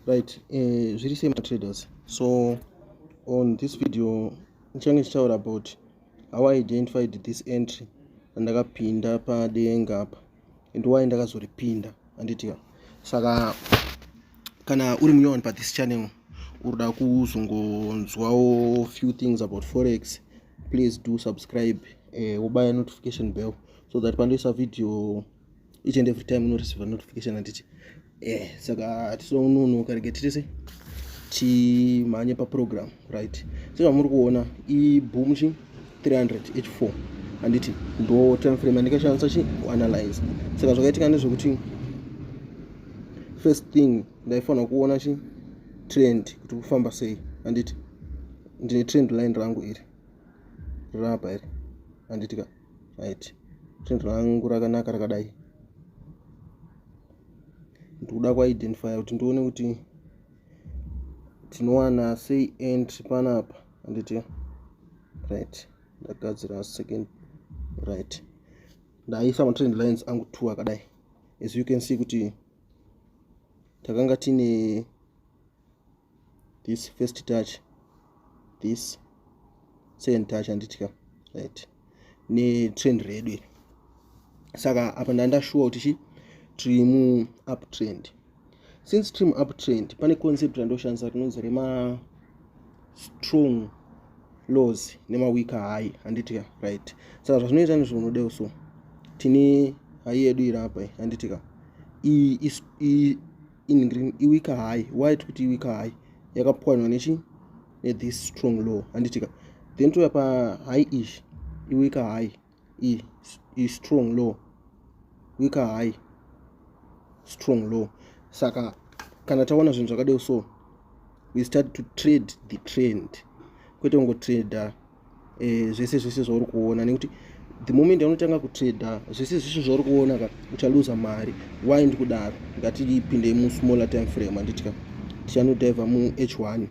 right eh, zviri sei matraders so on this video ndichange ndichitaura about how i identified this entry randakapinda padenga apa and why ndakazoripinda anditya saka kana uri muyowani pa this channel urida kuzongonzwawo few things about forex please do subscribe eh, wobaya notification bell so that pandoisa video each and every time unoreceiva notification handiti eh saka hatisononoka rege titise timhanye paprogram right sezvamuri kuona iboom chi 300 h4 handiti ndo time frame andikashandisa chi kuanalyze saka zvakaitika ndezvekuti first thing ndaifanira kuona chi trend kuti kufamba sei handiti ndine trend line rangu iri rapa iri handitika right trend rangu rakanaka rakadai ndikuda kuidentifya kuti ndione kuti tinowana sei entry panapa anditi right ndagadzira second right ndaisa matrend lines angu two akadai as you can see kuti takanga tine this first touch this second touch anditika right netrend redu iri saka apa ndandashuwa kuti chi tiri mu up trend since trim up trend pane concept randoshandisa rinonzi rema strong laws nemaweak high handitika right saka zvazvinoita ndizvo unodeo so tine hai yedu iri apa handitika in green iwika high why tikuti iwika high yakapwanywa nechi nethis strong law handitika then touya pa high ish iwika high i, i strong law wika high strong law saka kana taona zvinhu zvakadeo so we start to trade the trend kwete kungotrader eh, zvese zvese zvauri kuona nekuti the moment anotanga kutrader zvese zvese zvauri kuona ka uchaluza mari why ndikudaro ngatipindei musmaller time frame handiti ka tichanodaiva muh one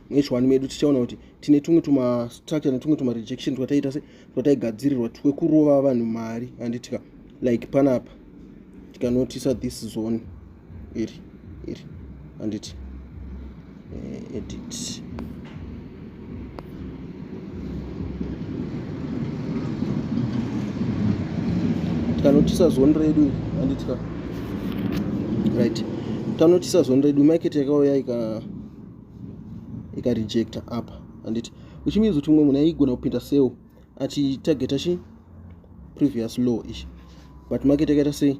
muh one medu tichaona kuti tine tumwe tumastructure netumwe tumarejection twataita se twataigadzirirwa twekurova vanhu mari handitika like panapa tikanotisa this zone iri iri handiti eh, edit tikanotisa zone redu handitika right tanotisa zone redu market yakauya ika ikarejecta apa handiti which means kuti umwe munhu aigona kupinda sell achitargeta chi previous low ichi but market yakaita sei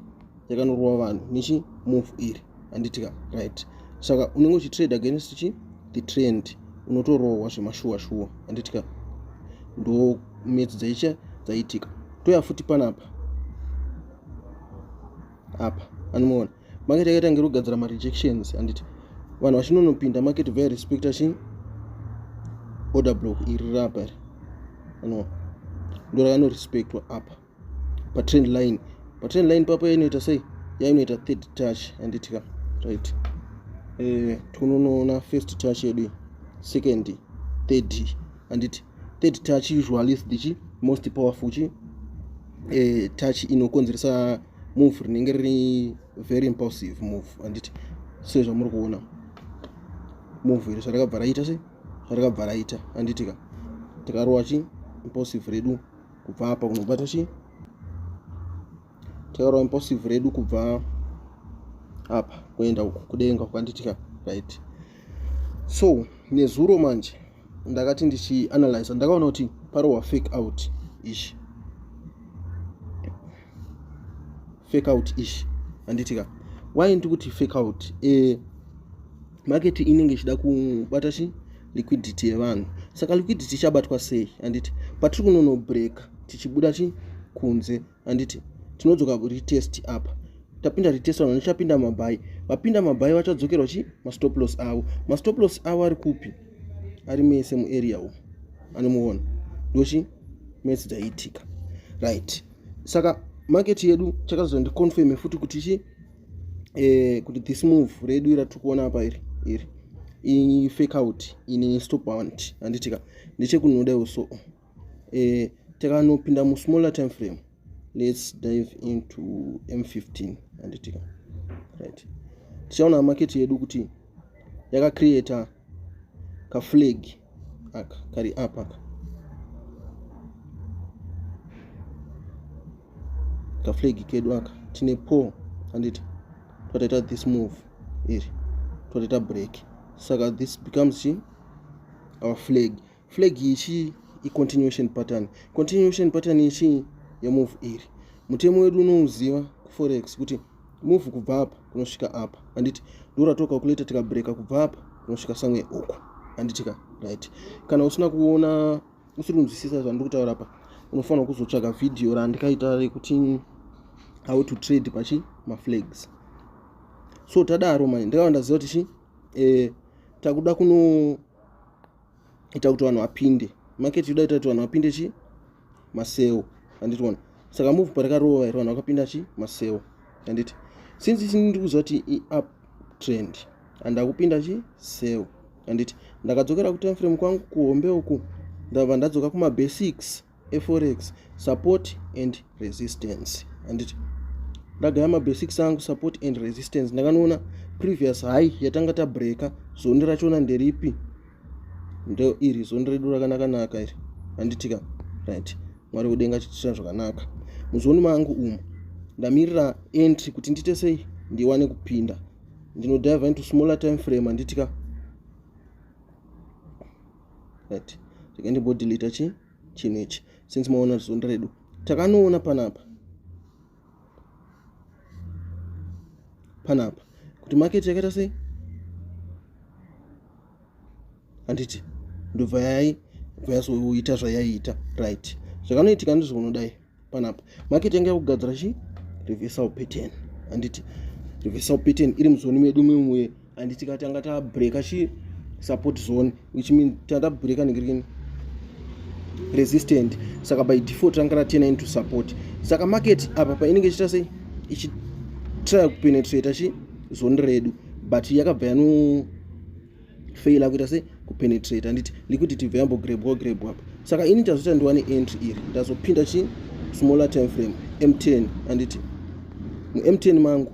yakanorova vanhu nechi move iri handitika right saka unenge uchitrade against chi the trend unotorohwa zvemashuwa shuwa handitika ndo metsi dzaicha dzaitika toya futi panapa apa anomuona market yakaita ngiri kugadzira marejections handiti vanhu vachinonopinda market vaya respecta chii order block iri rapa iri anoona ndo rakanorespectwa apa patrend line patrend line papo yainoita sei yainoita third touch handiti ka right eh, tinonoona first touch yedu second third handiti third touch usually is the most powerful chi eh, touch inokonzeresa move rinenge riri very impulsive move anditi sezvamuri kuona move iri zvarakabva raita se zvarakabva raita anditika tikarowa chi impulsive redu kubva apa kunobata chii taura impossive redu kubva apa kuenda uku kudenga kwanditika right so nezuro manje ndakati ndichianalyza ndakaona kuti parowa fake out ishi fake out ishi handitika why ndi kuti fake out e, market inenge ichida kubata chi liquidity yevanhu saka liquidity ichabatwa sei handiti patiri kunono break tichibuda chi kunze handiti tinodzoka kuretest apa tapinda retest vanhu vachapinda mabhayi vapinda mabhayi vachadzokerwa chi mastop loss avo mastop loss avo ari kupi ari mese muarea umu anomuona ndochi mese dzaiitika right saka market yedu chakazondiconfirme futi kuti chi eh, kuti this move redu ira tiri kuona apa iri iri ifake out ini stop want handitika ndechekunoda uso eh, takanopinda musmaller time frame let's dive into m15 handitika right tichaona market yedu kuti yakacreata kaflag aka kari up aka kaflag kedu aka tine po handiti twataita this move iri twataita break saka this becomes our flag flag iyi chii icontinuation pattern continuation pattern iyi chii yemove iri mutemo wedu unouziva kuforex kuti move kubva apa kunosvika apa handiti ndoratoka kuleta tikabreka kubva apa kunosvika samwe uku handitika right kana usina kuona usiri kunzwisisa zvandiri kutaura pa unofanira kuzotsvaga vhidhiyo randikaita rekuti how to trade pachi maflags so tadaro mai ndakava ndaziva kuti chi e, takuda kuno ita kuti vanhu vapinde market yoda ita kuti vanhu vapinde chi maseo handiti wona saka move parikarova here vanhu vakapinda chi maseo handiti since ichi ndiri kuziva kuti iup trend andakupinda chi seo handiti ndakadzokera kutime frame kwangu kuhombe uku ndabva ndadzoka kumabasics eforex support and resistance anditi ndagaya mabasics angu support and resistance ndakanoona previous high yatanga tabreaka zondi rachona nderipi ndo iri zondi redu rakanakanaka iri anditika right mwari wedenga chitira zvakanaka muzondi mangu umu ndamirira entry kuti ndiite sei ndiwane kupinda ndinodive into smaller time frame anditika right rega ndimbodeleta chi chinhu ichi since maona zunda redu takanoona panapa panapa kuti market yakaita sei handiti ndobva yai bva yasoita zvayaiita right zvakanoitika ndizvo unodai panapa market yanga yakugadzira chi reversal pattern handiti reversal pattern iri muzoni medu mimwe handiti ka tanga tabreaka chi support zone which mean tanga tabreaka negreen resistant saka by default ranga ratena into support saka market apa painenge ichiita sei ichitry kupenetrata chi zoni redu but yakabva yano fail akuita se kupenetrate handiti liquidity ibva yambogrebwa grebwa apa saka ini ndazoita ndiwane entry iri ndazopinda chi smaller time frame m10 handiti mum10 mangu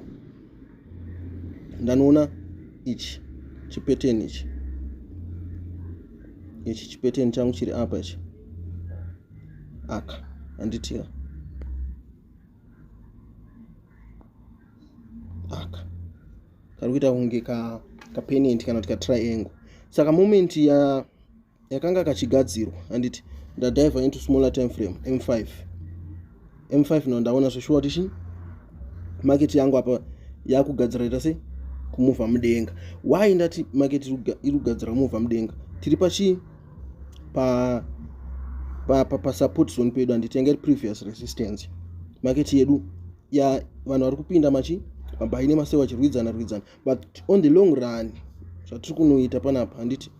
ndanoona ichi chipeteni ichi ichi chipeteni changu chiri apa ichi aka handitiya aka kari kuita kunge ka kapenent kana kuti katriangle saka moment ya yakanga kachigadzirwa handiti ndadiver into smaller time frame m5 m5 no ndaona zveshuwa kuti chii market yangu apa yakugadzira ita sei kumuvha mudenga why ndati market iri kugadzira kumuvha mudenga tiri pachii pa pasupport zone pedu handiti yanga iri previous resistance market yedu ya vanhu vari kupinda machi mabayi nemaseu vachirwidzana rwidzana but on the long run zvatiri kunoita panapa handiti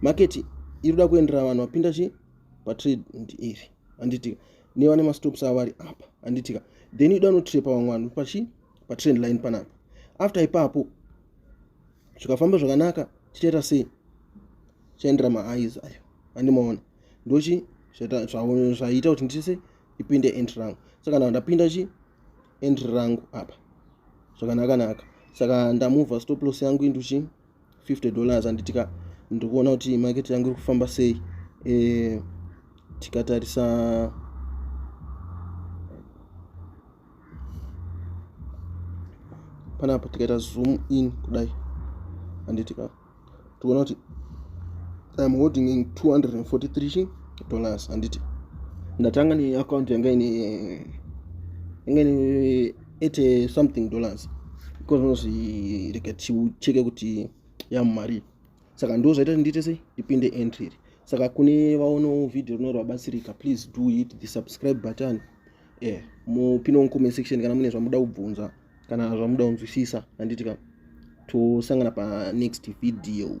maketi iri kuda kuendera vanhu vapinda chi patrade iri handitika nevane mastops avo vari apa handitika then ida unotrepa vamwe vanhu pachi patrend line panapa after ipapo zvikafamba zvakanaka tichaita sei chaendera maeyes ayo andimaona ndochi zvaita kuti ndise ipinde entry rangu so kana ndapinda chi entry rangu apa zvakanakanaka saka ndamuvha stop loss yangu into chi 50 dollars anditika ndiri kuona kuti market yangu iri kufamba sei e, tikatarisa panapa tikaita zoom in kudai anditika toona kuti iam holding in 243 dollars handiti ndatanga neaccount yanga ine yanga ine 80 something dollars because unozvi rega ticheke kuti yamumari saka ndo zvaita kuti ndiite sei ndipinde entry iri saka kune vaonawo vhidhio rino rwabatsirika please do it the subscribe button e eh, mupinowo comment section kana mune zvamuda kubvunza kana zvamuda kunzwisisa handiti ka tosangana panext video